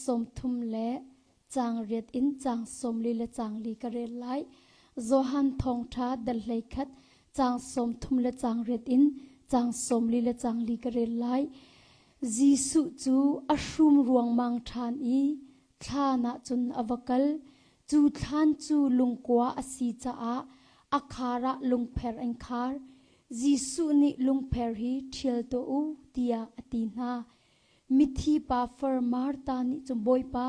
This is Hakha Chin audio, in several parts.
sawmthum le caang riat in caang sawmli le caangli ka rel lai. Johan thawngṭha dal hleikhat caang sawmthum le caang riat in caang sawmli le caangli ka rel lai. Jesuh cu a hrum ruangmang ṭhan i thlan ah cun a va kal. Cu thlan cu lungkua a si caah a khar ah lungpher an khar. Jesuh nih lungpher hi ṭhial tuah u tiah a ti hna. Mithi pa far Martha nih cun Bawipa,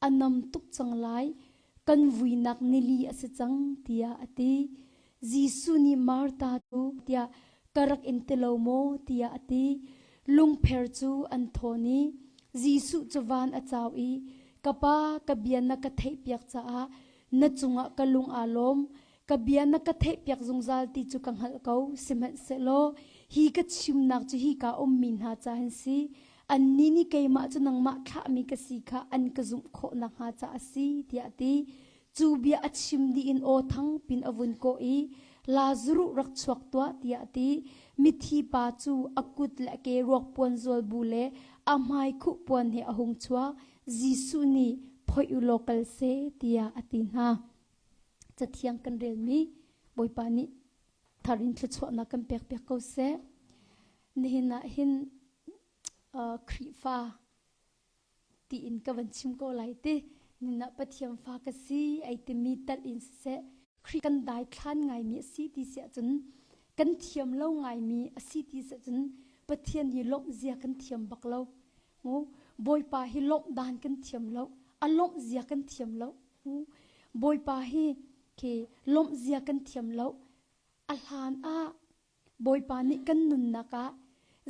a nam tuk cang lai, kan vuinak nili a si cang tiah a ti. Jesuh nih Martha cu tiah ka rak in ti lo maw tiah a ti. Lungpher cu an thawn i Jesuh cu van a cau i, Ka Pa, ka bia na ka theihpiak caah na cungah ka lung aa lawm, ka bia na ka theihpiak zungzal ti cu ka hngalh ko sihmanhsehlaw hi ka chimnak cu hi ka ummi hna ca an si annih nih keimah cu nangmah thlahmi ka si kha an ka zumh khawh nakhnga ca a si tiah ti cu bia a chim dih in aw thang pin a vun kawh i Lazaruh rak chuak tuah tiah ti mithi pa cu a kut le ke ruakpuan zual bu le a hmai khuh puan he a hung chuak Jesuh nih phoih u law kal seh tiah a ti hna Cathiang kan relmi Bawipa nih thar in thluachuahnak kan pekpiak ko seh. Nihin ah hin uh, Khrihfa tiin ka van chim ko lai ti. Ninah Pathian fa ka si ai timi tal in siseh, Khrih kan dai thlan ngaimi a si ti si ahcun, kan thiam lo ngaimi a si ti si ahcun, Pathian hi lawmh zia kan thiam bak lo. Ngo, Bawipa hi lawmh dan kan thiam lo. A lawmh zia kan thiam lo. hmu. Bawipa hi khi lawmhzia kan thiam lo. A hlan ah Bawipa nih kan nunnak ah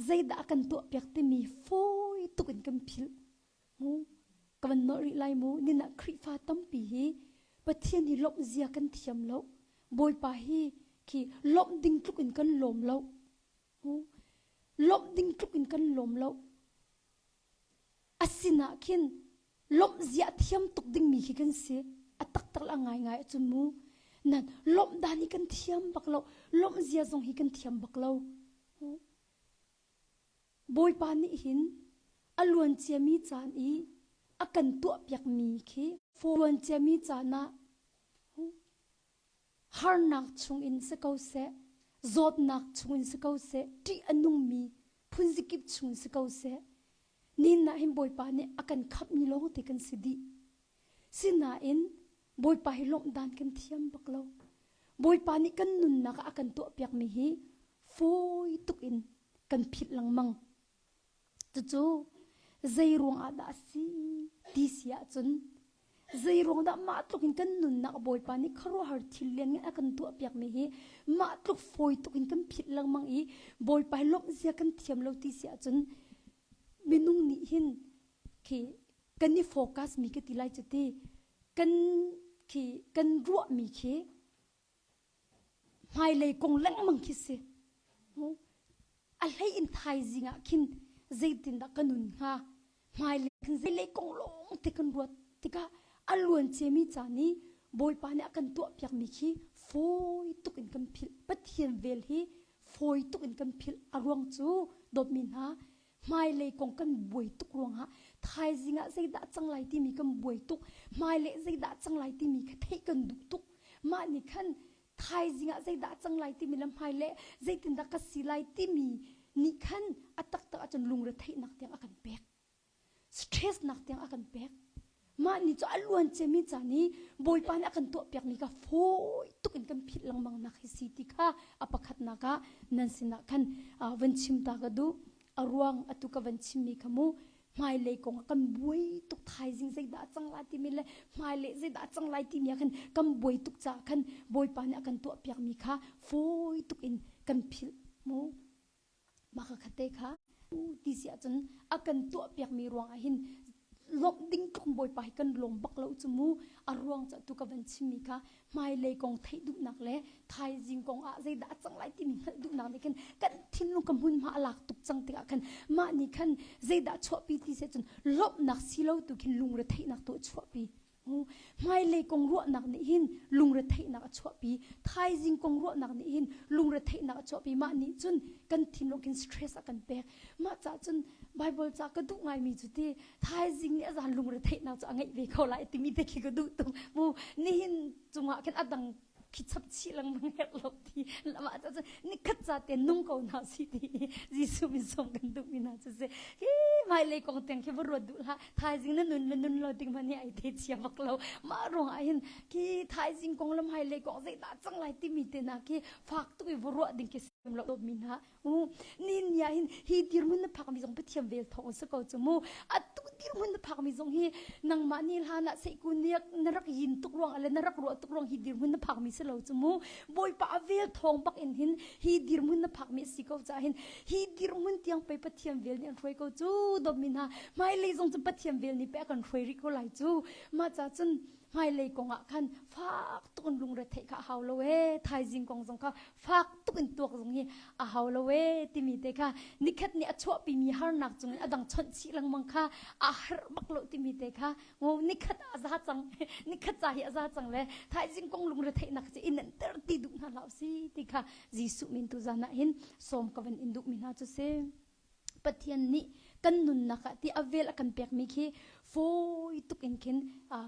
zeidah a kan tuahpiak timi fawi tuk in kan philh. Mu. Ka van nawh rih lai mu. Nin ah Khrihfa tampi hi Pathian hi lawmhzia kan thiam lo. Bawipa hi khi lawmh ding tluk in kan lawm lo. Mu. Lawmh ding tluk in kan lawm lo. A sinah khin lawmh zia a thiam tuk dingmi khi kan si. A taktak le a ngaingai a cun mu. Nan lawmh dan hi kan thiam bak lo. Lawmh zia zong hi kan thiam bak lo. Bawipa nih hin a luanciami caan i a kan tuahpiakmi khi luanciami caan ah harnak chungin si ko seh, zawtnak chungin si ko seh, ṭih a nungmi phunzikip chungin si ko seh, nihin ah hin Bawipa nih a kan khamhmi lawng te kan si dih. Sinain Bawipa hi lawmh dan kan thiam bak lo. Bawipa nih kan nunnak ah a kan tuahpiakmi hi fawi tuk in kan philh lengmang. Cucu zeiruang ah dah a si ti si ahcun zeiruang dah mah tluk in kan nunnak Bawipa nih khuaruahhar thil lianngan a kan tuahpiakmi hi mah tluk fawi tuk in kan philh lengmang i Bawipa hi lawmh zia kan thiam lo ti si ahcun minung nih hin khi kan i focus mi ka ti lai cu ti kan khi kan ruahmi khi hmailei kong lengmang khi si a hlei in thaizing ah khin zeitindah ka nun hnga hmailei khin zeilei kong lawng te kan ruat tikah a luanciami caan i bawipa nih a kan tuahpiakmi khi fawi tuk in kan philh pathian vel hi fawi tuk in kan philh a ruang cu dawtmi hna hmailei kong kan buai tuk ruangah thaizing ah zeidah cang lai timi kan buai tuk hmailei zeidah cang lai timi kha theih kan duh tuk mah nih khan thaizing ah zeidah cang lai timi le hmaile zeitindah ka si lai timi nih khan a taktak ahcun lungretheihnak tiang a kan pek stress nak tiang a kan pek Mah ni cu a luan cemi caan i Bawipa nih a kan tuahpiakmi kha fawi tuk in kan philh lengmang nak hi si ti kha a pakhatnak ah nan sinah khan van chim ta ka duh. A ruang atu ka van chimmi kha mu hmailei kong ah kan buai tuk thaizing zeidah a cang lai timi le hmailei zeidah a cang lai timi ah khan kan buai tuk caah khan Bawipa nih a kan tuahpiakmi kha fawi tuk in kan philh mu. Mah ka khatte kha u ti si ahcun a kan tuahpiakmi ruangah hin lawmh ding tlong Bawipa hi kan lawm bak lo cu mu. A ruang cu tu ka van chimmi kha hmailei kong theih duhnak le thaizing kong ah zeidah a cang lai timi hngalh duhnak nih khin kan thinlung ka hmunhma a lak tuk cang tikah khan mah nih khan zeidah chuahpi ti si ahcun lawmhnak si lo tu khin lungretheihnak tu a chuahpi. hmailei kong ruahnak nih hin lungretheihnak a chuahpi thaizing kong ruahnak nih hin lungretheihnak a chuahpi mah nih cun kan thinlung hin stress a kan pek mah ca cun Bible ca ka duh ngaimi cu ti thaizing nih a zan lungretheihnak cu a ngeih ve ko lai timi te khi ka duh tung mu nihin cungah khin a dang khi chap chih lengmang herh lo ti lama ca cu nikhat ca te nung ko na si ti Jesu min som kan duh mi na cu se hi mai lei kong teng khi va ruat du la thaizing na nun nun lo ding mani ai the chia bak lo ma rong ai hin ki thaizing kong lam hai lei kong zai na chang lai ti mi te na ki fak tu va ruat ding ki sem lo mi na u ni ni ah hin hi dirhmun na phakmi zong pathian vel thawng a si ko cu mu atu dirhmun na phakmi zong hi nangmah ni hlan ah seikun ni na rak yin tuk ruang le na rak ruah tuk ruang hi dirhmun na phakmi si lo cu mu bawipa a vel thawng bak in hin hi dirhmun na phakmi a si ko ca hin hi dirhmun tiang pe pathian vel nih an hruai ko cu domin ha hmailei zong cu pathian vel nih pe a kan hruai rih ko lai cu ma ca cun hmailei kong ah khan fak tuk in lungre theih kha hau lo e thaizing kong zong kha fak tuk in tuak zung hi a hau lo e timi te kha nikhat ni a chuahpi mi harnak cung in a dang chawnh chih lengmang kha a har bak lo timi te kha ngo nikhat a za cang nikhat ca hi a za cang le thaizing kong lungre theihnak ci in an ter ti duh hna hlah si ti kha Jesuh min tu zan ah hin som kavan in duh mi hna cu si Pathian nih kan nunnak ah ti a vel a kan pekmi khi fawi tuk in khin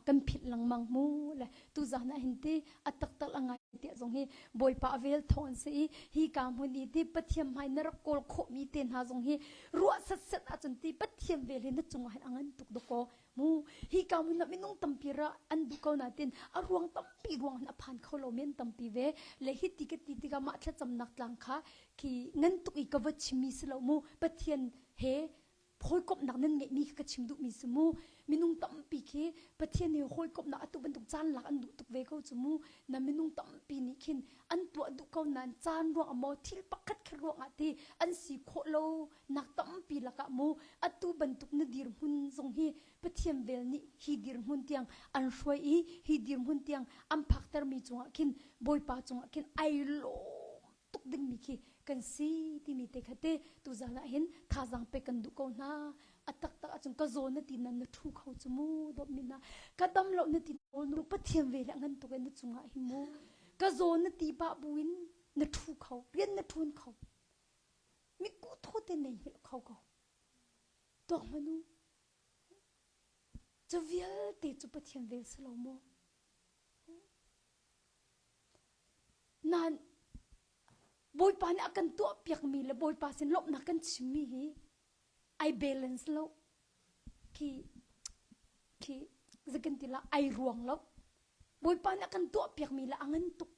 kan philh lengmang mu le tu zan ah hin ti a taktak a ngai ti zong hi bawipa a vel thawng an si i hi ka hmun i ti pathian hmai na rak kawl khawhmi te hna zong hi ruah set set ahcun ti pathian vel hi na cungah hin a ngan tuk dawkaw hmu hi ka mun ah minung tampi ra an duh ko natin a ruang tampi ruang a phan kho lo men tampi ve le hi ti ka ti tikah mah thlacamnak tlang kha khi ngan tuk i ka va chimmi si lo mu pathian he hawikomhnak nan ngeihmi kha ka chim duhmi si mu minung tampi khi pathian he hawikomhnak atu bantuk caan lak an duh tuk ve ko cu mu na minung tampi nih khin an tuah duh ko nan caan ruang a maw thil pakhat khe ruang ah ti an si khawh lo Nak tampi lakah mu atu bantuk na dirhmun zong hi Pathian vel nih hi dirhmun tiang an hruai i hi dirhmun tiang an phaktermi cungah khin Bawipa cungah khin ai lawm tuk dingmi khi kan si timi te kha te tuzan ah hin thazaang pe kan duh ko hna a taktak ahcun ka zawn na ti nan na thu kho cu mu dawp min na ka dam lo na ti nu pathian ve le ngan tuk in na cungah hi mu ka zawn na ti ba bu in na thu kho rian na thun kho Mitkuh thaw te nei hil kho ko. Tuah manu, cu vialte cu Pathian vel si lo maw? Nain, Bawipa nih a kan tuahpiakmi le Bawipa sin lawmhnak kan chimmi hi ai balance lo. Khi, khi zakan ti la ai ruang lo. Bawipa nih a kan tuahpiakmi le a ngan tuk.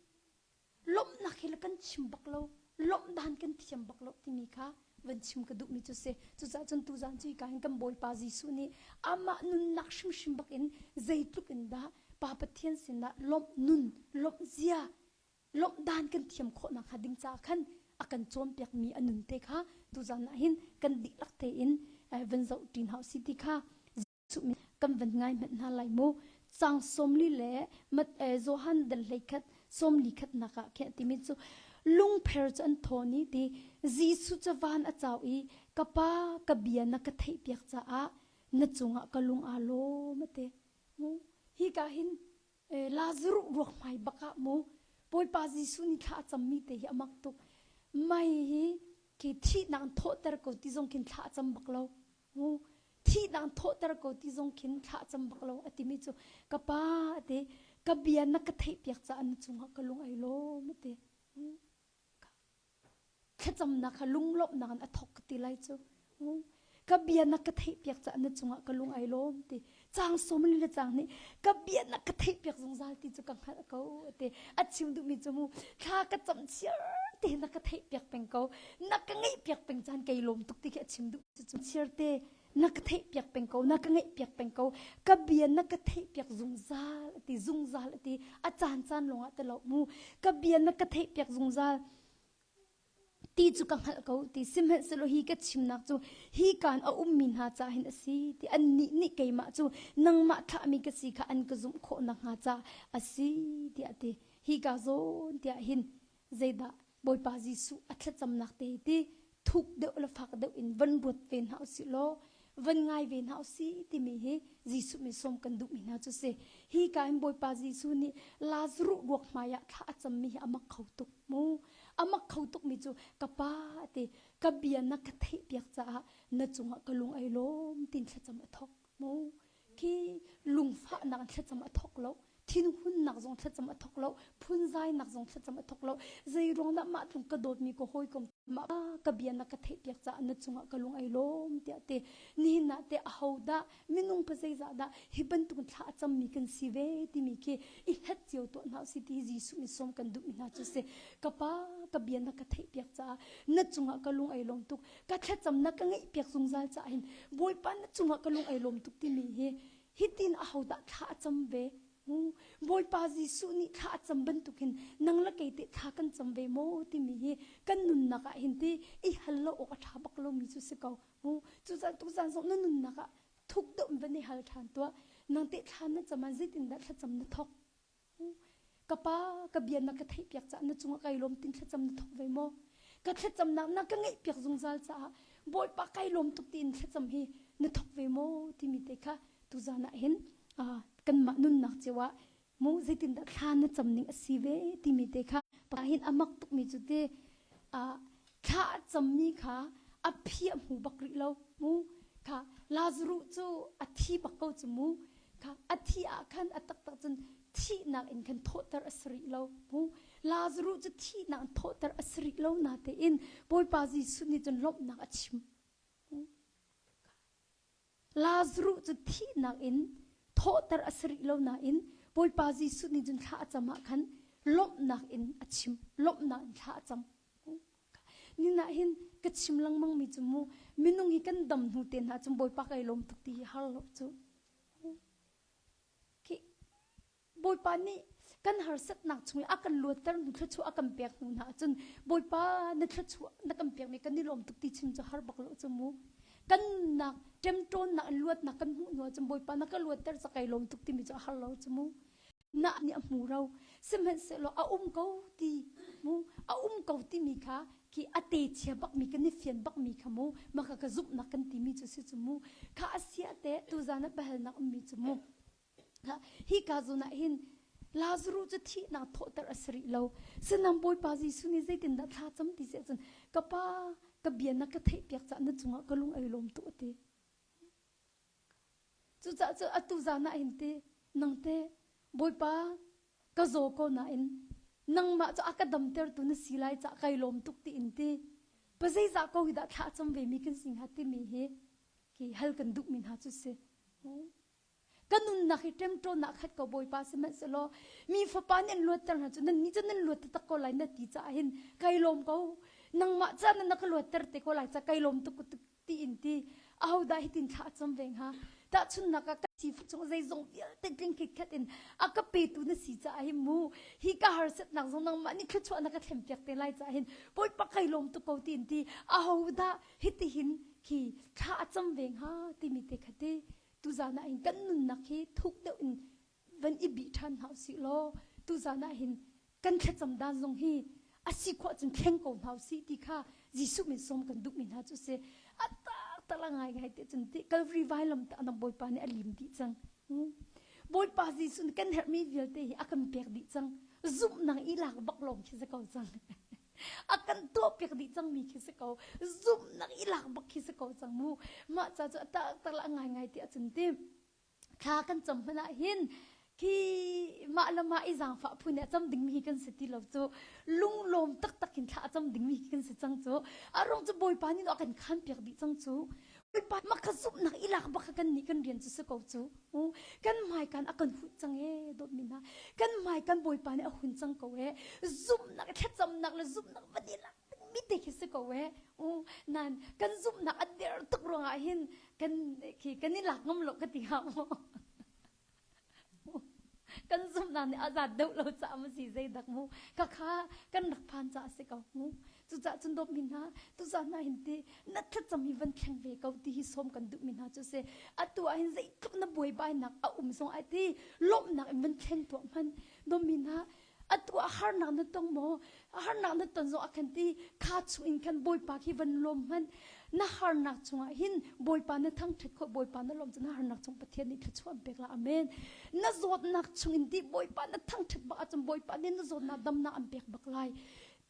lawmhnak hi le kan chim bak lo lawmh dan kan thiam bak lo timi kha van chim ka duhmi cu si cucaah cun tuzan cu hika hin kan bawipa jesuh nih amah nunnak hrimhrim bak in zeitluk in dah pa pathian sinah lawmh nun lawmh zia lawmh dan kan thiam khawhnak hnga ding caah khan a kan cawnpiakmi a nun te kha tuzan ah hin kan dihlak tein van zoh ṭin hau si ti kha kan van ngai hmanh hna lai mu chang somli le mat e johan dal hlei khat somli khat nak ah khe timi chu lungpher chu an thoni ti jesu chawan achau i ka pa ka bia na ka thei piak cha a na chungah ka lung a lo mate mu hi ka hin lazaru ruak mai baka mu poipa jesu ni thla chammi te hi amak tuk mai hi ki thi nang thoter ko ti zong kin thla cham bak lo Hmu, thihnak thawhter ko ti zong khin thlah cam bak lo a timi cu ka pa a ti. Ka bia na ka theihpiak caah na cungah ka lung ai lawm a ti. Hmm. Thlacamnak kha lunglawmhnak in a thawk ka ti lai cu. Ka bia na ka theihpiak caah na cungah ka lung ai lawm ti. cang som le cang nih ka biana ka theih piak zungzal ti cu ka hngalh ko te a chim duhmi cu mu thla ka cam chiar te na ka theih piak peng ko na ka ngei piak peng chan kei lom tuk ti khi a chim duh cu chiar te na ka theih piak peng ko na ka ngei piak peng ko ka bia na ka theih piak zungzal ti zungzal ti a caan caan longah te lo mu ka bia na ka theih piak zungzal ti cu ka hngalh ko ti sihmanhsehlaw hi ka chimnak cu hi kaan a ummi hna ca hin a si ti annih nih keimah cu nangmah thlahmi ka si kha an ka zumh khawh nakhnga ca a si tiah ti hi kaa zawn tiah hin zeidah Bawipa Jesuh a thlacamnak te hi ti thuk deuh le fak deuh in van ruat ve hna usih law van ngai ve hna usi timi hi Jesuh min som kan duhmi hna cu si hi ka in Bawipa Jesuh nih Lazaru buak hmai ah thla a cammi hi amak kho tuk mu amak kho tukmi cu ka pa te ka bia na ka theihpiak caah na cungah ka lung ai lawm tin thlacam a thok mu khi lungfahnak thlacam a thawk lo thinhunnak zong thlacam a thawk lo phunzainak zong thlacam a thawk lo zeiruang dah mah tlung ka dawtmi ka hawikom mah ka bia na ka theihpiak caah na cungah ka lung ai lawm tiah te nihin nah te a ho dah minung pa zeizah dah hi bantuk thla a cam mi kan si ve timi khi i hlat cio tuah hna si ti Jesuh in som kan duh mi hna cu si ka pa ka bia na ka theihpiak caah na cungah ka lung ai lawm tuk ka thlacamnak ka ngeihpiak zungzal caah hin bawipa na cungah ka lung ai lawm tuk timi hi hitin a hodah thla a cam ve bawipa jesuh nih thla a cam bantukin nang le kei te thla kan cam ve maw timi hi kan nunnak ah hin ti i hal lo awk a ṭha bak lomi cu si ko cucun tuzan zong na nunnak ah thuk deuh in van i hal ṭhan tuah nang te thla na cam ah zeitindah thlacam na thawk ka pa ka bia na ka theihpiak caah na cungah kai lawm tin thlacam na thok ve maw ka thlacamnak na ka ngeihpiak zungzal caah bawipa kai lawm tuk tiin thlacam hi na thok ve maw timi te kha tuzan ah hin kanmah nunnak cio ah mu zeitindah thla na cam ning a si ve timi te kha pa hin a mak tukmi cu te Thla a cammi kha a phi a hmu bak rih lo. Mu kha Lazaruh cu a thi bak ko cu mu kha a thih ah khan a taktak cun thihnak in khan thawhter a si rih lo. Mu Lazaruh cu thihnak in thawhter a si rih lo natein Bawipa Jesuh nih cun lawmhnak a chim. Lazarus cu thihnak in thawhter a si rih lo nain Bawipa Jesuh nih cun thla a cam ah khan lawmhnak in a chim lawmhnak in thla a cam nihnak hin ka chim lengmang mi cu mu minung hi kan dam hnu te hna cun Bawipa ka i lawm tuk ti hi har lo cu okay Bawipa nih kan harsatnak chung i a kan luatter hnu thluachuah a kan pek hnu hna ahcun Bawipa na thluachuah na kan pekmi kan i lawm tuk ti chim cu har bak lo cu mu. Kan nak ṭemṭawnnak in luatnak kan hmuh hnu ahcun Bawipa na ka luatter cu kai lawm tuk timi cu a har lo cu mu. Nah nih a hmu ro. Sihmanhsehlaw a um ko ti mu a um ko timi kha ki a te chia bakmi kan i fian bakmi kha mu maka ka zumhnak kan timi cu si cu mu kha a sia te tuzan a pahalnak ummi cu mu hi ka zun ah hin Lazaru cu thihnak thawhter a si rih lo sinam Bawipa Jesuh nih zeitin dah thla cam ti seh cun ka pa ka bianak ka theihpiak cah na cungah ka lung ai lawm tu a ti cucah cu atu zan ah hin ti nang te Bawipa ka zaw ko na in nangmah cu a ka damtertu na si lai cah kai lawm tuk ti in ti pa zeizah ko hi dah thla cam ve mi kan si hnga timi hi ki hal kan duh mi hna cu si ka nunnak hi ṭemṭawnnak khat ko Bawipa sihmanhsehlaw mi fapa nih an luatter hna cu nannih cu nan luat taktak ko lai na ti caah hin kai lawm ko nangmah ca na na ka luatter te ko lai ca kai lawm tuk tuk tiin ti ahodah hitin thla a cam ve hnga tahchunhnak ah ka sifah cung zeizong vialte tling khitkhat in a ka petu na si caah hin mu hi ka harsatnak zong nangmah nih thluachuah na ka thlempiak te lai caah hin Bawipa kai lawm tuk ko tiin ti ahodah hitihin khi thla a cam ve hnga timi te khati Tuzaan ah hin kan nunnak hi thuk deuh in van i bih ṭhan hna usih law tuzaan ah hin kan thlacam dan zong hi a si khawh ahcun thleng ko hna usih ti kha Jesuh min sawm kan duhmi hna cu si a tartara ngaingai te cun ti Calvary vailam tah na Bawipa nih a lim dih cang Bawipa Jesuh nih kan herhmi vialte hi a kan pek dih cang zumhnak i lak bak lawng khi za ko cang a kan tuahpiak dih cangmi khi si ko zumhnak i lak bak khi si ko cang mu mah ca cu ta tar la ngai ti a cun ti kha kan cham hman ah hin khi mah le mah i zaangfah phu nih a cam dingmi hi kan si ti lo cu lunglawm taktak in thla a cam dingmi hi kan si cang cu a rong cu bawipa nih a kan khan piak dih cang cu Bawipa, maka zumhnak i lak bak kannih kan rian cu si ko cu. Kan hmaikan a kan hunh cang ee, dawtmi hna. Kan hmaikan Bawipa nih a hun cang ko ee. Zumhnak, thlacamnak le zumhnak va nih lak mi te khi si ko ee. Nan kan zumhnak a der tuk ruangah hin kan, khi kan i lak ngam lo ka ti hnga maw? kan zumhnak nih azat deuh lo caah ma si zeidak mu ka kha kan rak phan caah si ko mu cucah cun dawp mi hna tucah hna hin ti na thlat cam hi van kheng ve ko ti hi som kan duh mi hna cu se atu ah hin zeitluk na buai bai nak a um zong ai ti lawmnak in van kheng tuah man dawp mi hna atu a harnak na tong maw a harnak na ton zong a kan ti kha chungin kan bawipa khi van lawm hman na harnak chungah hin bawipa na thangṭhat khawt bawipa na lawm cu na harnak chung pathian nih thluachuah pek la amen na zawtnak chungin ti bawipa na thangṭhat bak ahcun bawipa nih na zawtnak damnak an pek bak lai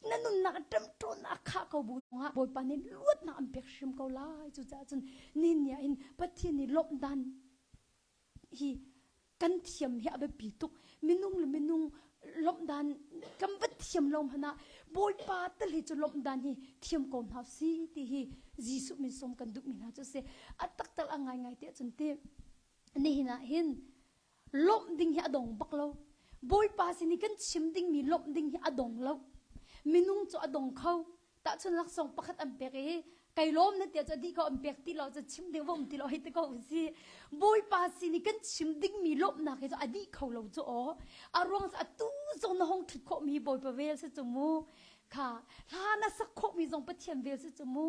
na nunnak ṭemṭawnnak a khah ko bu zongah bawipa nih luatnak an pek hrim ko lai cucaah cun ni nia in pathian nih lawmh dan hi kan thiam hi a biapi tuk minung le minung lawmhdan kan va thiam lo hmanh ah bawipa tale cu lawmhdan hi thiam ko hna si ti hi jesuh min som kan duhmi hna cu si a taktak a ngaingai ti ahcun ti nihin ah hin lawmh ding hi a dong bak lo bawipa sin i kan chim dingmi lawmh ding hi a dong lo minung cu a dong kho Tahchun laksawng pakhat an pek i kai lawm na tia cu dih ko an pek ti lo cu chim ding va um ti lo hei ti ko usih bawipa sin i kan chim dingmi lawmhnak hi cu a dih kho lo cu aw a ruang a tu zong na hong thut khawhmi bawipa vel si cu mu kha hla na sak khawhmi zong pathian vel si cu mu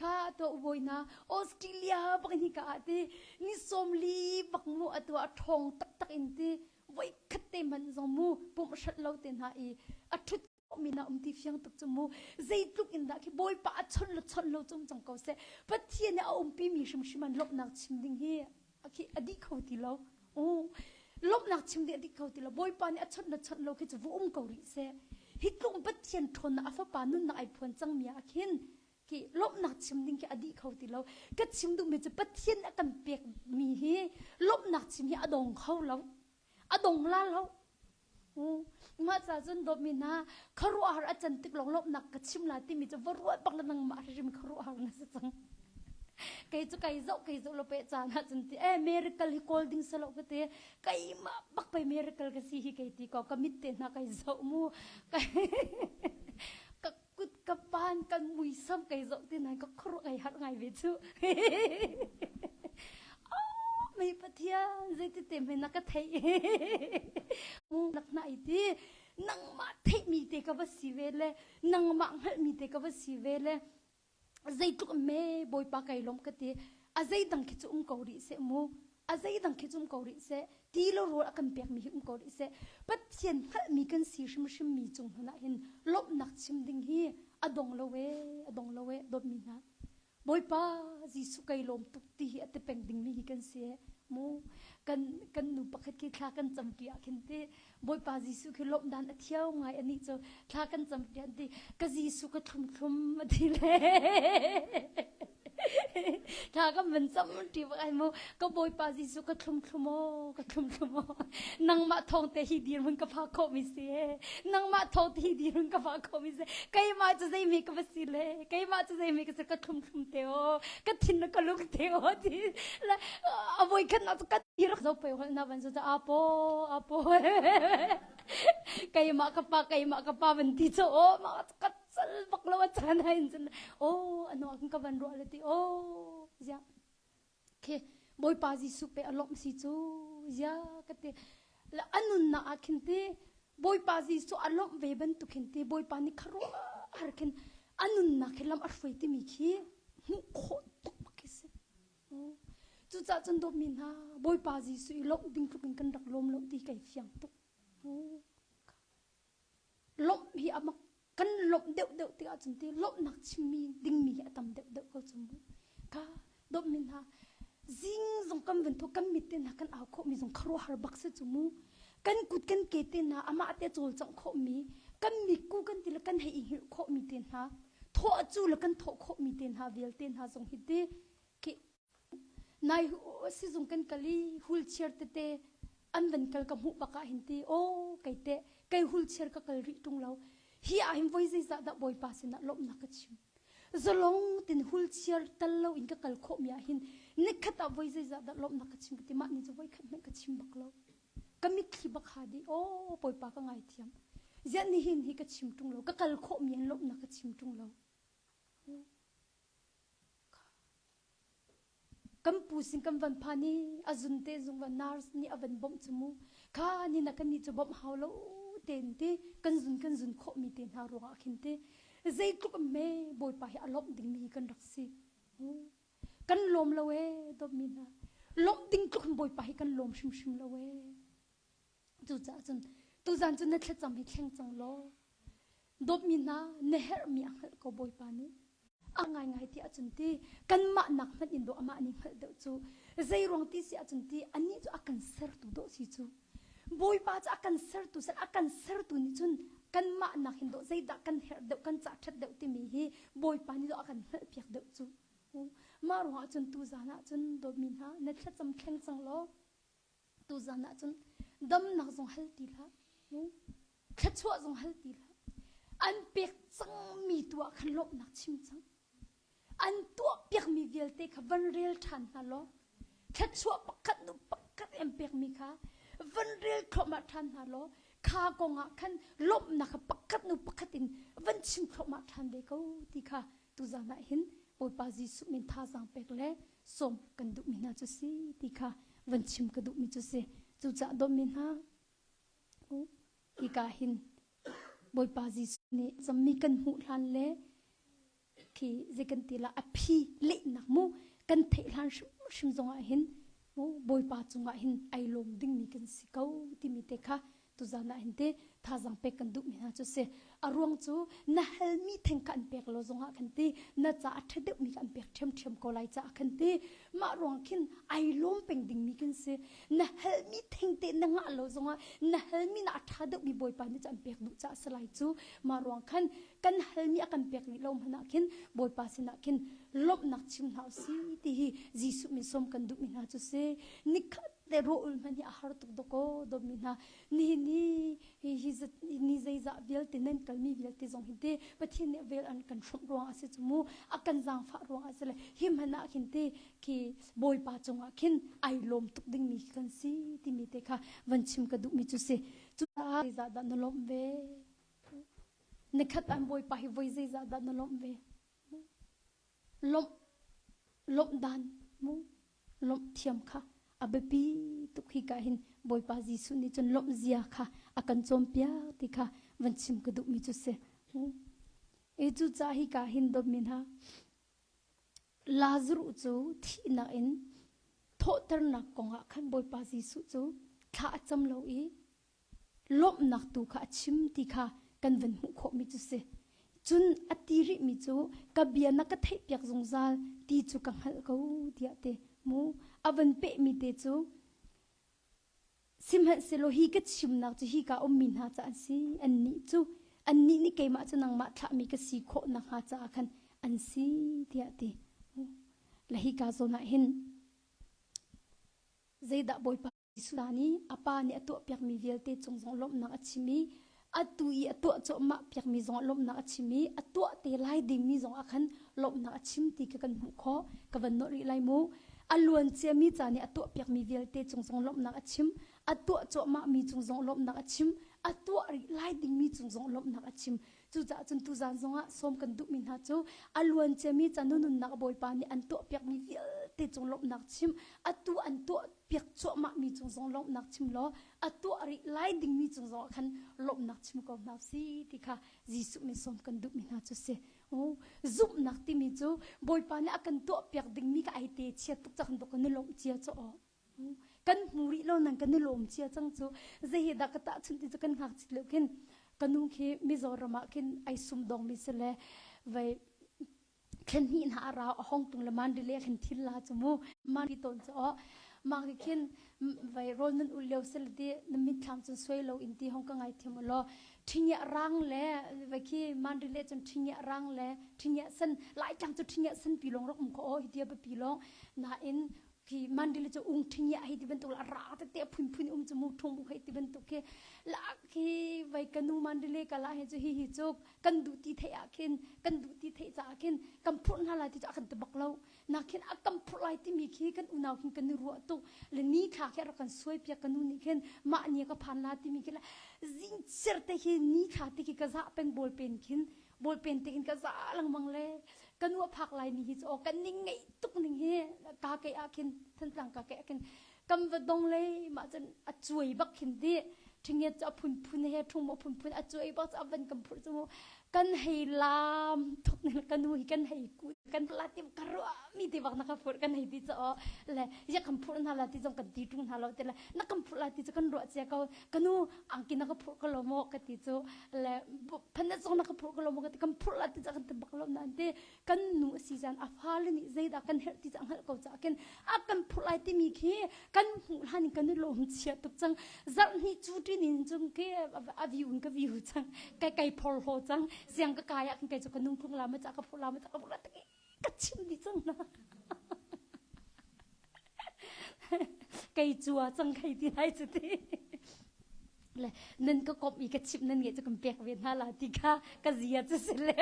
kha to boina australia bak ni ka a ti ni somli bak mu atu a thong taktak in ti voi khat te man zong mu pum shat lo te na i a thut min a um ti fiang tuk cu mu zeitluk in dah khi bawipa a chon lo chon lo cung cang ko seh pathian a umpi mi hrimhrim an lawmhnak chim ding hi a khi a dih kho ti lo lawmhnak chim ding a dih kho ti lo bawipa nih a chon lo chon lo khi cu vu um ko rih seh hi tlung pathian ṭhawn a fapa nunnak ai phuan cang mi ah khin ki lawmhnak chim ding khi a dih kho ti lo ka chim duhmi cu pathian a kan pek mi hi lawmhnak chim hi a dong kho lo a dong la lo mah ca cun dawtmi hna kharuahhar a can tik lawng lawmhnak ka chim la timi cu va ruah bak le nang mah hrim kharuahhar na si cang kei cu kai zoh kai zoh lo pe caan ah cun ti eh miracle hi kawl ding sa lo ka ti keimah bak pei miracle ka si hi kei ti ko ka mit te hna kai zoh mu kai Kut ka pan, kan muisam kai zoh ti nai ka khuaruah kai har ngai ve cu. Oh, mei pathian, zeitete me na ka theih. Mu nak na i ti. Nangmah theihmi te ka va si ve le, nangmah hngalhmi te ka va si ve le, zeitluk me bawipa kai lawm ka ti a zeidang khi cu um ko rih seh mu a zeidang khi cu um ko rih seh ti lo rawl a kan pek mi hi um ko rih seh pathian hngalhmi kan si hrimhrim mi cung hmun ah hin lawmhnak chim ding hi a dong lo e a dong lo e dawtmi hna bawipa jesuh kai lawm tuk ti hi a te peng ding mi hi kan si mu kan kan nu pakhat khi thla kan cam pi ah khin ti Bawipa Jesuh khi lawmh dan a thiau ngai anih cu thla kan campiak ti ka Jesuh ka thlum thlum a ti le thla kan van cam ti ba ai mu ka Bawipa Jesuh ka thlum thlum o ka thlum thlum o nangmah thong te hi dir hun ka pha kho mi si nangmah thong te hi dir hun ka pha kho mi si keimah cu zei mi ka va si le keimah cu zei mi ka si ka thlum thlum te o ka thin na ka lung te o ti a voi khat na ka Irak zo pei hol na van zu ta apo apo keimah ka pa keimah ka pa van ti cho o ma kat sal bak lo chan ha in chan o ano an ka van ro le ti o ya ke boipa jisu pe alom si chu ya ka te la anun na a khin ti boipa jisu alom ve ban tu khin ti boipa ni kharo har khin anun na khilam a hroi ti mi khi mu kho tuk ma kise Cucaah cun dawtmi hna, Bawipa Jesuh i lawmh ding tluk in kan rak lawm lo ti kai fiang tuk. Lawmh hi a mak kan lawmh deuh deuh tik ahcun ti lawmhnak chimmi dingmi hi a tam deuh deuh ko cu mu. Ka dawtmi hna, zing zong kan vun thu kan mit te hna kan au khawhmi zong kharuahar bak si cu mu. kan kut kan ke te hna amah te cawlcangh khawhmi kan mikku kan ti le kan hei i hngilh khawhmi te hna thawh cu le kan thawh khawhmi te hna vialte hna zong hi ti khi nai sizung kan kal i hulchiar tete an van kal ka hmuh bakah hin ti o kei te kei hulchiar ka kal rih tung lo hi ah hin voi zeizah dah bawipa sinah lawmhnak ka chim Zalong tin hulchiar tal lo in ka kal khawhmi ah hin nikhat ah voi zeizah dah lawmhnak ka chim ka ti mah nih cu voi khat hmanh ka chim bak lo. Ka mitthli bak ha di aw Bawipa ka ngaithiam. Ziah nihin hi ka chim ṭung lo ka kal khawhmi in lawmhnak ka chim ṭung lo. Kan pu sin kan van phan i a zun te zung van nurse nih a van bawmh cu mu. Kha ni na kan nih cu bawmh hau lo ten ti kan zun kan zun khawh mi te hna ruangah khin ti zeitluk me Bawipa hi a lawmh dingmi hi kan rak si. Kan lawm lo e dawpmi hna lawmh ding tluk in Bawipa hi kan lawm hrimhrim lo e. Cucaah cun tuzan cu na thlacam hi thleng cang law dawtmi hna na herhmi a hngalh ko Bawipa nih a ngaingai ti ahcun ti kanmah nak hmanh in daw amah nih hngalh deuh cu zeiruang ti si ahcun ti anih cu a kan sertu dawh si cu Bawipa cu a kan sertu sal a kan sertu nih cun kanmah nakin dawh zeidah kan herh deuh kan cah ṭhat deuh timi hi Bawipa nih dawh a kan hngalhpiak deuh cu mah ruangah cun tu zan ah cun dawtmi hna na thlacam thleng cang law Tuzan ah cun damnak zong hal ti hlah, thluachuah zong hal ti hlah. An pek cangmi tu ah khan lawmhnak chim cang. An tuah piakmi vialte kha van rel ṭhan hna law thluachuah pakhat nu pakhat an pekmi kha van rel thluahmah ṭhan hna law kha kong ah khan lawmhnak kha pakhat nu pakhat in van chim thluahmah ṭhan ve ko ti kha tuzan ah hin Bawipa Jesuh min thazaang pek le sawm kan duhmi hna cu si ti kha van chim ka duhmi cu si cucah dawtmi hna hika hin Bawipa Jesuh nih zammi kan hmuh hlan le khi zei kan ti la a phi lehnak mu kan theih hlan hrim zongah hin mu Bawipa cungah hin ai lawm dingmi kan si ko timi te kha Tuzan ah hin ti thazang pek kan duhmi hna cu si a ruang cu na halmi theng kan pek lo zongah kan ti na ca a ṭha deuhmi kan pek ṭhiamṭhiam ko lai caah kan ti mah ruang khin ai lawm peng dingmi kan si na halmi theng te na ngah lo zongah na halmi na a ṭha deuhmi bawipa nih cu an pek duh caah si lai cu mah ruang khan kan halmi a kan pek rih lo hmanah khin bawipa sinah khin lawmhnak chim hna u si ti hi Jesuh min som kan duhmi hna cu si nikhat Tehruh un hmanh hi a har tuk dawkaw dawmi hna. Ni ni hi ni zeizah vialte nan kalmi vialte zong hi te Pathian nih vel an kan hromh ruang a si cu mu a kan zaangfah ruang a si le hi hmanh ah khin te khi Bawipa cungah khin ai lawm tuk dingmi kan si timi te kha van chim ka duhmi cu si cucaah zeizah dah na lawmh ve nikhat an Bawipa hi voi zeizah dah na lawmh ve Lawmh dan mu lawmh thiam kha a biapi tuk hika hin Bawipa Jesuh nih cun lawmh zia kha a kan cawnpiak ti kha van chim ka duhmi cu si. E cucaah hika hin dawtmi hna Lazarus cu thihnak in thawhternak kongah khan Bawipa Jesuh cu thla a cam lo i lawmhnak tu kha a chim ti kha kan van hmuh khawhmi cu si. Cun a ti rihmi cu ka bia na ka theihpiak zungzal ti cu ka hngalh ko tiah te mu a van pehmi te cu sihmanhsehlaw hi ka chimnak cu hi ka ummi hna ca an si annih cu annih nih keimah cu nangmah thlahmi ka si khawh nakhnga caah khan an si tiah ti la hi kaa zawn ah hin zeidah bawipa Jesuh nih a Pa nih a tuahpiakmi vialte cung zong lawmhnak a chim i atu i a tuah cuahmah piakmi zongah lawmhnak a chim i a tuah te lai dingmi zongah khan lawmhnak a chim ti kha kan hmuh khawh. Ka van nolh rih lai mu. A luanciami ca nih a tuahpiakmi vialte cung zong lawmhnak a chim, a tuah cuahmahmi cung zong lawmhnak a chim, a tuah rih lai dingmi cung zong lawmhnak a chim. Cucaah cun tuzaan zongah sawm kan duhmi hna cu a luanciami canu nunnak Bawipa nih an tuahpiakmi vialte cung lawmhnak chim, atu an tuahpiak cuahmahmi cung zong lawmhnak chim law a tuah rih lai dingmi cung zongah khan lawmhnak chim ko hna si ti kha Jesuh nih sawm kan duhmi hna cu si. Oh, zumhnak timi cu Bawipa nih a kan tuahpiak dingmi ka ai te chia tuk cak kan dok kan i lawmh cia cu awh. kan hmu rih lo nang kan i lawm cia cang cu zei hi dah ka tahchunh ti cu kan ngakchit lo khin kanu khi mizoram ah khin ai sum dong mi se le vei khen hni na ara hong tung le man rile khen thil la chu mu man ri ton chu o ma ki khin vei rol nun ul leo se le ti na min thlang chun suai lo in ti hong ka ngai thiam lo ṭhinya rang le vei khi man rile chun ṭhinya rang le ṭhinya sen lai tlang chu ṭhinya sen pi long rok mu ko hi tia pa pi long na in ki mandili chu ung thing ya hei ti bantuk la ra te te phun phun um chu mu thong bu hei ti bantuk ke la khi vai kanu mandili kala he chu hi hi chu kan du ti thei a khin kan du ti thei cha khin kam phur na lai ti chu akan te bak lo na khin akam phur lai ti mi khi kan unau khin kan ru tu le ni thla ke ra kan suai pia kanu ni khin ma ni ka phan la ti mi khi la zing cher te hi ni thla ti ki ka za pen bol pen khin Bawi pen tein ka za lengmang le ka nu a phak lai ni hi cu kan ning ngei tuk ning hi ka ke ah khin thantlang ka ke ah khin kam va dong le mah cun a cuai bak khin di ṭhingiat cu a phunphun he ṭhung a phunphun a cuai bak cu a van kam phur cu mu kan hei lam thuk ne ka nu hi kan hei ku kan la ti ka ro mi ti bak na ka phur kan hei ti cha o le ya kam phur na la ti zong kan ti ṭung na lo te le na kam phur la ti chu kan ro che ko ka nu angki na ka phurh ka lom ka ti cu le phanna zong na ka phurh ka lom ka ti kan phurh la ti ca kan tebak lom nan ti kan nu asi zan a fale nih zeidah kan herh ti ca hngalh ko ca kin a kan phurh lai timi khi kan hmuh hlan in kan nu lo hum chia tuk cang zarh ni cu tin in cung ke a view in ka view cang kai kai phor ho cang siang ka kai ak kai cu kan nung tlung la ma ca ka phurh la ma ca ka phurh la ka chimh dih cang hna kei cua cang kei ti lai cu ti le nan ka kop i ka chimh nan nge cu kan pek ve hna la ti kha ka zia cu si le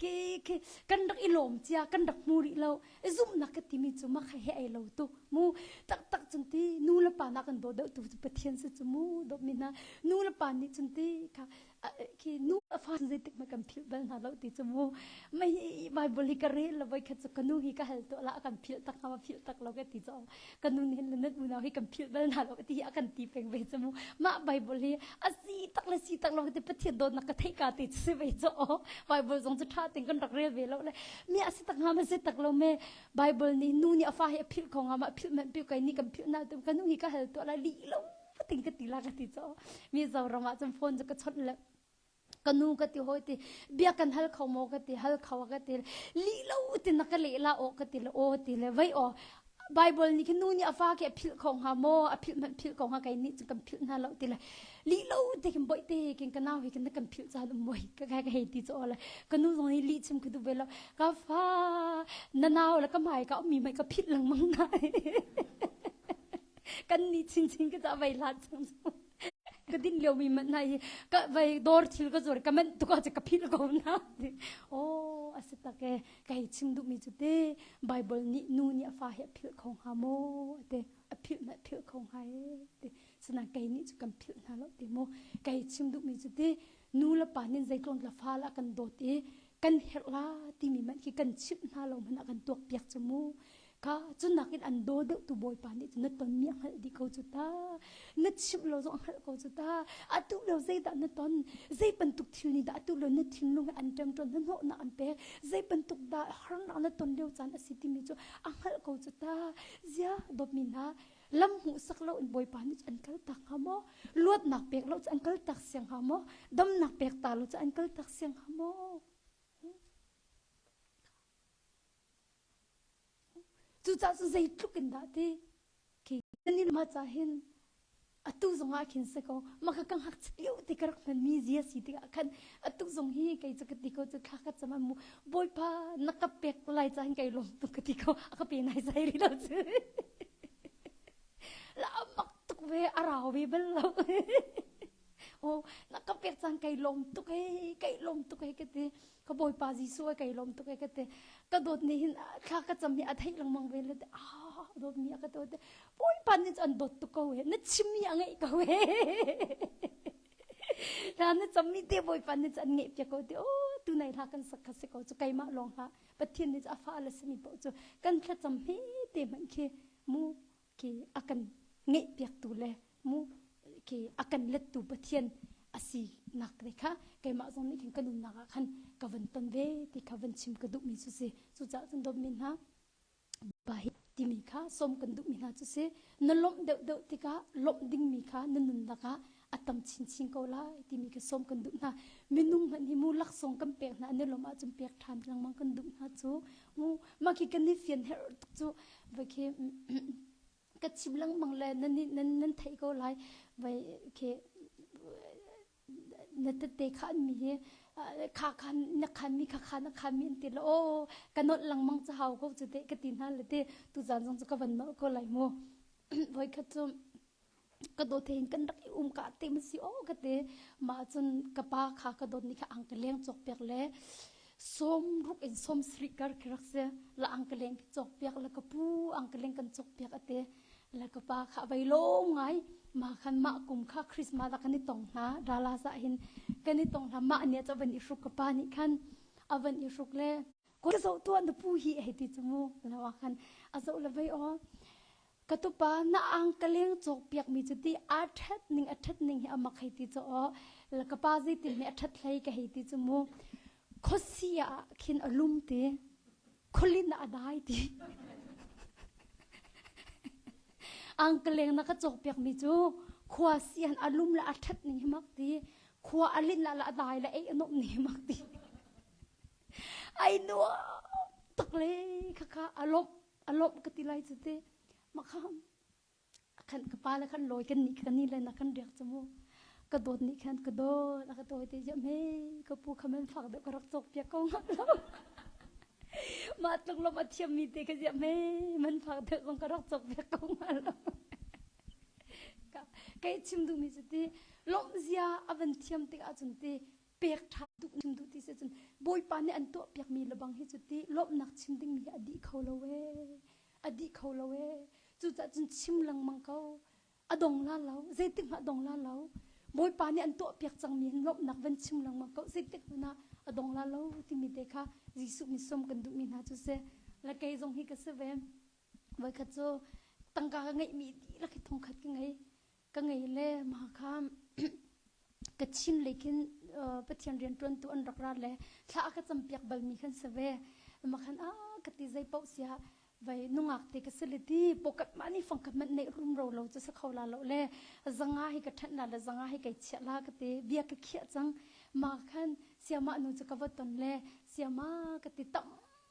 ke ke kan rak i lom cia kan rak mu rih lo zumnak ka timi cu ma kha he ai lo tu mu tak tak chung ti nu le pa na kan do deuh tu cu pathian se chu mu dop mi na nu le pa nih chung ti kha khi nu a fa zeitik ma kan philh bal hna lo ti chu mu mai hi bible hi ka rel lo voi khat chu kanu hi ka hal to la kan phil tak na phil tak lo ka ti cho kanu ni hin lanat mu na hi kan phil bal na lo ti hi akan ti peng ve chu mu ma bible hi asi tak le si tak lo ti pathian do na ka thei ka ti chu ve cho bible zong chu tha ting kan rak rel ve lo le mi asi tak nga ma se tak lo me bible ni nu ni a fa hi a phil ko nga ma phil man pi kai ni kan phil na tu kanu hi ka hal to la li lo fating ka ti la ka ti cho mizo ram ah cun phone ka chawt le ka nu ka ti hoi ti bia kan hal kho mo ka ti hal kho ka ti li lo ti na ka le la o ka ti le o ti le vai o bible ni khinu ni afa ke phil kho nga mo a phil man phil ko nga kai ni chu kan phil na lo ti la li lo te kin boi te kin kana wi kin kan phil cha dum moi ka ka hei ti cho la kanu zong ni li chim ku du belo ka fa na naw la ka mai ka mi mai ka phil lang mang na kan ni chinchin ka vei hlat chung ka din lio mi man na hi ka vei dor thil ka zor ka man tu ka ka phil ko na o ase tak e kai chim du mi chu te bible ni nu ni afa he phil kho ha mo te a phil na phil kho ha e te sana kai ni chu kan phil na lo te mo kai chim du mi chu te nu la pa nin zeitlon la fa la kan dot e kan her la ti mi man ki kan chip na lo mana kan tuak piak chu mu ka cu nakin an daw deuhtu bawipa nih cun na tonmi a hngalh dih ko cu ta na chimh lo zong a hngalh ko cu ta atu lo zeidah na ton zei bantuk thil nih dah atu lo na thinlung he an ṭemṭon na hnawhnak an pek zei bantuk dah harnak na ton lio caan a si timi cu a hngalh ko cu ta zia dawtmi hna lam hmuhsak lo in bawipa nih an kal tak hnga maw luatnak pek lo cu an kal tak siang hnga maw damnak pek ta lo cu an kal tak siang hnga maw Cucaah cu zeitluk in dah ti kanin ma ca hin atu zong ah khin se ko maka ka ngak lio ti ka rak hmanmi zi a si tikah khan atu zong hi kei cu ka ti ko cu thla ka cam mu bawipa na ka pek lai ca hin kai lom tu ka ti ko a ka pe nai sai rih lo cu la mak tuk ve a rau ve bal lo o na ka pek cang kai lom tuk hei kai lom tuk hei ka ti ka bawipa jesuh a kai lom tuk e ka te ka dawt ni hin thla ka cam hi a theih lengmang ve le te ah dawt mi a ka dawt bawipa ni an dawt tu ko he na chim mi a ngei ko he na na cham mi te bawipa ni an ngei pia ko te o tu nei hla kan sak kha ko chu kaima long ha pathian ni a fa la sami po chu kan thla cham he te man khi mu ki a kan ngeihpiaktu le mu ki a kan lettu Pathian a si nak ne kha keimah zong nih khin ka nunnak ah khan ka van ton ve ti kha van chim ka duhmi cu si cucaah cun dawtmi hna pa hi timi kha som kan duhmi hna cu si na lawmh deuh deuh tikah lawmh dingmi kha na nunnak ah a tam chinchin ko lai timi ka sawm kan duh hna minung hmanh hi mu laksawng kan pek hna nelawm ahcun pek ṭhan lengmang kan duh hna cu mu mah khi kan i fian her tuk cu vai khi ka chim lengmang le nan nan nan theih ko lai vai khi na tete khan mi hi kha khan na khan mi kha khan na khan mi ti la o kanot langmang cha hau ko chu te ka ti na le te tu zan zong chu ka van ma ko lai mu voi khat chu ka dawt hin kan rak i um ka te ma si o ka te ma cun ka pa kha ka dawt ni kha ang ka leng chok pek le som ruk in som sri kar ke rak se la ang ka leng chok pek la ka pu ang ka leng kan chok pek ate la ka pa kha vai lo ngai ma khan ma kum kha christmas la kan i tong hna dala sa hin kan i tong hna ma ne cha van i hruk ka pa ni khan avan i hruk le ko zo tu an pu hi he ti chumu lawa khan azo la vai o Ka tupa na ang ka leng cawkpiakmi cu ti aa ṭhat ning a ṭhat ning hi a mak hei ti cu aw ka pa zeiti hme a ṭhat hlei ka hei ti cu mu khuasi ah khin a lum ti khulin ah a dai ti angkeleng na ka cawkpiakmi cu khua sian a lum la a ṭhat ning hi mak ti khua a lin la la a dai la ei a nup ning mak ti ai nuam tak le khaka a lawmh a lawmh ka ti lai cu te makham khan ka pa le khan lawi kan nih kan ni le na kan riak chu mu ka dawt nih khan ka dawt a ka dawi te jam he ka pu khamen fak deuh ka rak chok pia ko ngam lo ma tluk lo ma thiam mi te ka jam he man fak deuh kong ka rak chok pia ko ngam lo ka kai chim du mi chu ti lawm zia avan thiam tik ahcun ti pek ṭha tuk chim duh ti si cun Bawipa nih an tuahpiakmi lebang hi cu ti lawmhnak chim dingmi hi a dih kho lo ee a dih kho lo ee cucaah cun chim lengmang ko a dong la lo zeitik hmanh a dong la lo Bawipa nih an tuahpiak cangmi hin lawmhnak van chim lengmang ko zeitik hmanh ah a dong la lo timi te kha Jesuh nih sawm kan duhmi hna cu si la kei zong hi ka si ve voikhat cu tangka ka ngeihmi dihlak hi thongkhat ka ngei ka ngei le mah kha ka chim lekin pathian riantuantu an rak ra le thla ka campiak balmi kan si ve ma khan a ka ti zei pauh sia vai nungak te ka siliti pokat ma ni fangkat man nei rum ro lo chu sakho la lo le zanga hi ka than la le zanga hi kai chia la ka te bia ka khia chang ma khan siama nu chu ka vaton le siama ka ti tam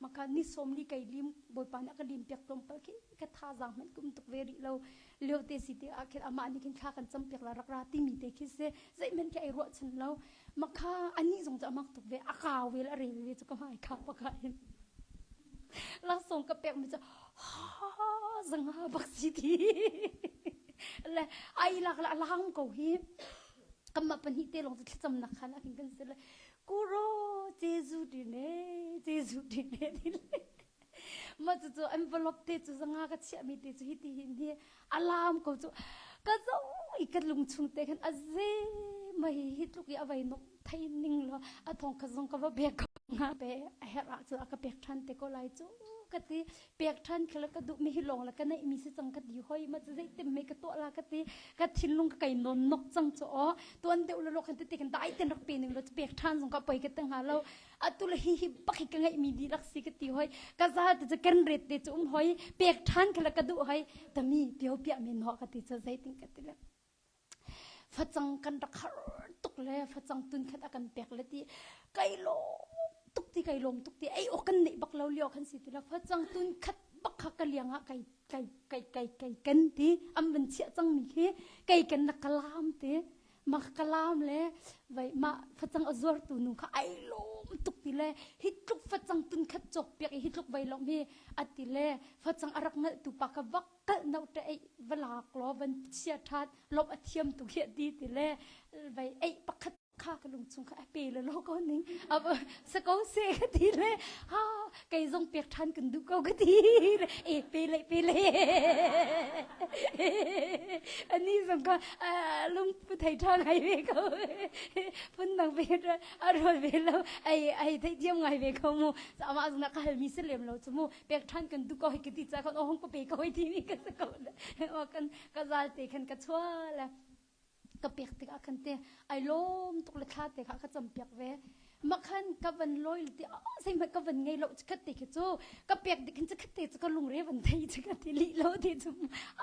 Maka ni som ni kai lim bawipa nih ka lim piak tlawmpal khin ka thazaang hmanh kum tuk ve rih lo lio te si te ah khin amah nih khin thla kan cam piak la rak ra ti mi te khi se zeihman khi ai ruah chan lo maka ani zong cu amak tuk ve a ka wel a re ve cu ka mai kha paka in langsung ka pek mi cu ha zang ha bak si ti le ai lak la lang ko hi kamma pahnih te long chu thlacam nak khan akin kan se le Kuro Jesu di ne Jesu di ne ti le ma cu cu envelope te cu zanga ka chiah mi te cu hi ti hin hi alarm ko cu ka zo i ka lung chung te khan a ze mai hi tluk i avai nok thai ning lo a thong ka zong ka va bek ko nga be a her a cu a ka pek than te ko lai cu ka ti pek ṭhan khi la ka duhmi hi lawng la ka neihmi si cang ka ti hoi ma cu zeitin mei ka tuah la ka ti ka thinlung ka kai non nok cang cu o tuan deuh lo lo kan tete kan dai ten rak pe ning lo pek ṭhan zong ka poi ka te hnga lo atu la hi hi baki ka ngeihmi di lak si ka ti hoi ka za te cu ken ret te cu um hoi pek ṭhan khi la ka duh hoi tami pio piah men ho ka ti cu zeitin ka ti le Facang kan rak har tuk le facang tunkhat a kan pek le ti kai lawm tuk ti kai lawm tuk ti ei awk kan neih bak lo lio kan si tu la facang tunkhat bak kha ka liang ah kai kai kai kai kai ken ti am van chiah cang mi khi kai ken na kalam ti ma kalam le vai ma facang azor tu nu kha ai lom tuk ti le hi tluk facang tun khat chok piak hi tluk vai lo mi ati le facang arak nal tu pa ka vak kalh no te ei va lak law van chia than lom a thiam tu hi di ti le vai ei pakhat kha ka lung chung kha a pe le lo ko ning ab sa ko se ka ti le ha kai zong pek than kan du ko ka ti e pe le pe le ani zong ka lung pu thai than ngai ve ko phun nang ve a rol ve lo ai ai thai diam ngai ve ko mu ama zong na ka hal mi se lem lo chu mu pek than kan du ko hi ka ti cha kan ohong pa pe ko hi ti ni ka sa ko o kan ka zal te khan ka chwa la ka pek te ka kan te ai lom tuk le thla te ka ka cham pek ve makhan ka van loil te sei ma ka van ngei lo khat te ke chu ka pek de khin khat te ka lung re van thei che ka ti li lo te chu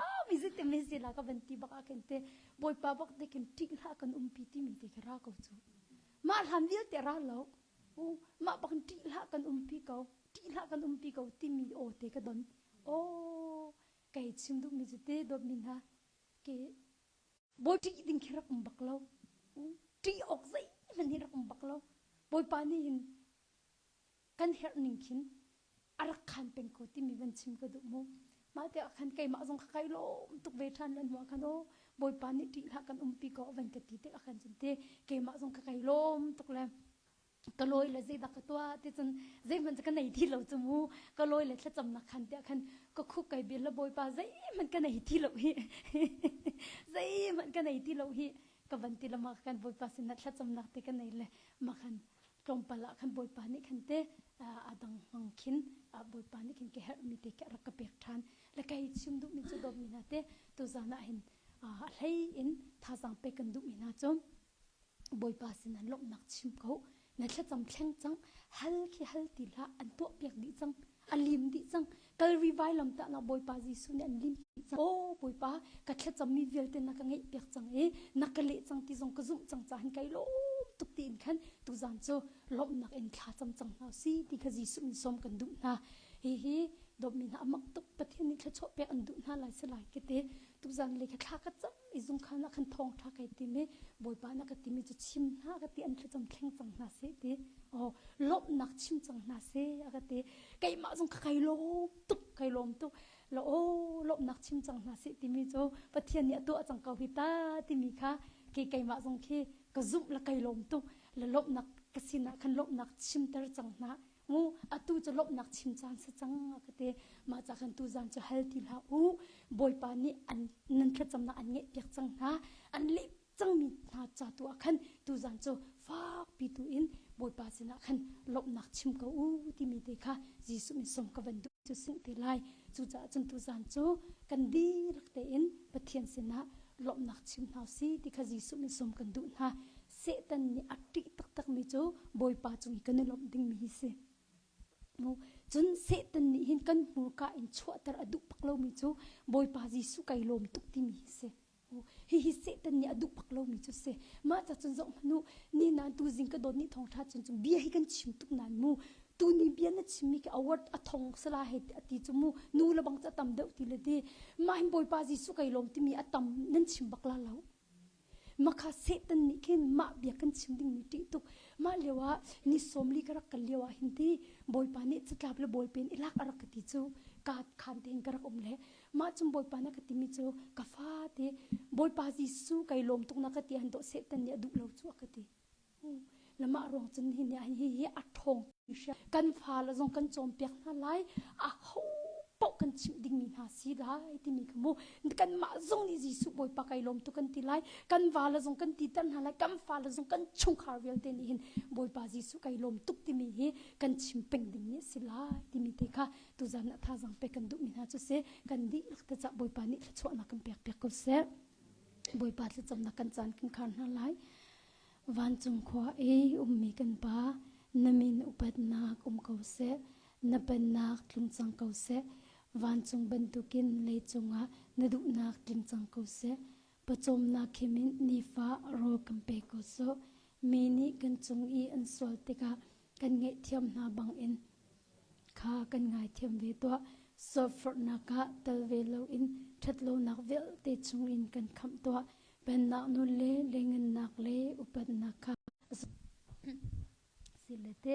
a mi ze te me se la ka van ti baka kan te boi pa bak te kin tik la kan um pi ti mi te ka ra ko chu ma hlam vil te ra lo ma bak ti la kan um pi ko ṭih hlah kan umpi ko timi aw te ka don. Aw, kei chim duhmi cu te dawtmi hna, ke Bawi ṭih ding khi rak um bak lo. Ṭih awk zeihmanh hi rak um bak lo. Bawipa nih hin kan herh ning khin a rak khan peng ko timi van chim ka duh mu. Mah te ah khan keimah zong kha kai lawm tuk ve ṭhan ran hnu ah khan o Bawipa nih ṭih hlah kan umpi ko van ka ti te ah khan cun te keimah zong ka kai lawm tuk le ka lawi le zeidah ka tuah ti cun zeihmanh ka nei ti lo cu mu ka lawi le thlacam nak khan tiah khan ka khuk kai bil la bawipa zeihmanh ka nei ti lo hi zeihmanh ka nei ti lo hi ka van ti lama khan bawipa sin na thlacam nak te ka nei le ma khan tlawmpal ah khan bawipa nih khan te adang mang khin bawipa nih khin ke herh mi te ke rak ka pek than le kai chim duh mi cu dom mi na te tu zan ah hin a hlei in thazang pe kan duh mi na chu Bawipa sinah lawmhnak chim ko. Na thlacam thleng cang. Hal khi hal ti hlah. An tuahpiak dih cang. A lim dih cang. Kalvi vailam tahnak Bawipa Jesuh nih an lim dih cang. O Bawipa, ka thlacammi vialte na ka ngeihpiak cang i na ka leh cang ti zong ka zumh cang caah kai lawm tuk tiin khan tuzan cu lawmhnak in thla cam cang hna si ti kha Jesuh in sawm kan duh hna. Hihi dawtmi hna a mak tuk Pathian nih thluachuah pek an duh hna lai selai kete. Tuzan lei kha thla ka cam i zungkhan ah khan thawngṭha ka tim i bawipa na ka timi cu chim hna a ka ti an thlacam thleng cang hna seh ti aw lawmhnak chim cang hna seh a ka ti keimah zong kai lawm tuk kai lawm tuk la aw lawmhnak chim cang hna seh timi cu pathian nih a tuah cang ko hi ta timi kha ke keimah zong khi ka zumh la kai lawm tuk la lawmhnak ka sinah khan lawmhnak chimter cang hna Mu, atu cu lawmhnak chim caan si cang a ka ti. Mah ca khan tuzan cu hal ti hlah u. Bawipa nih an nan thlacamnak an ngeih piak cang hna. An leh cangmi hna ca tu ah khan tuzan cu fakpi tu in Bawipa sinah khan lawmhnak chim ko u timi te kha Jesuh min sawm ka van duh cu sin te lai. Cucaah cun tuzan cu kan dirak tein Pathian sinah lawmhnak chim hna u si ti kha Jesuh min sawm kan duh hna. Satan nih a ṭih taktakmi cu Bawipa cung i kan i lawmh dingmi hi si. Cun Satan nih hin kan hmurka in chuahter a duh bak lomi cu Bawipa Jesuh kai lawm tuk timi hi si. Hihi Satan nih a duh bak lomi cu si. Mah ca cun zoh hmanh u, ni nan tuzing ka dawt nih thawngṭha cun cu bia hi kan chim tuk nan mu. Tuni bia na chimmi khi a word a thong sala he a ti cu mu. Nu le bang cu a tam deuh ti le ti. Mah hin Bawipa Jesuh kai lawm timi a tam nan chim bak la lo. Makha Satan nih khin mah bia kan chim ding mi ṭih tuk. Mah lio ah ni sawmli ka rak kal lio ah hin ti Bawipa nih catlap le bawi pen i lak a rak ka ti cu ka khaan te in ka rak um le mah cun Bawipa na ka timi cu ka fa te Bawipa Jesuh kai lawm tuk na ka ti an dawh Satan nih a duh lo cu a ka ti. Lamah ruang cun hi nih hi hi a ṭhawng kan fale zong kan cawnpiak hna lai a ho paoh kan chimh dingmi hna si lai timi ka hmu kanmah zong nih Jesuh Bawipa kai lawm tu kan ti lai kan vale zong kan ti ter hna lai kan fale zong kan chungkhar vialte nih hin Bawipa Jesuh kai lawm tuk timi hi kan chim peng dingmi a si lai timi te kha tuzan a thazang pe kan duhmi hna cu se kan dihlak te cah Bawipa nih thluachuahnak kan pek piak ko seh Bawipa thlacamnak kan caan kan khar hna lai Vancung khua i ummi kan Pa, na min upatnak um ko seh, na pennak tlung cang ko seh. Vancung bantukin lei cungah na duhnak tling cang ko seh. Pawcawmnak khimin nifa rawl kan pe ko sawh. Mi nih kan cung i an sual tikah kan ngaihthiam hna bangin Kha kan ngaithiam ve tuah. Sawhforhnak ah tal ve loin ṭhatlonak vialte chungin kan khamh tuah. Pennak nun le lengennak le upatnak kha a si lete.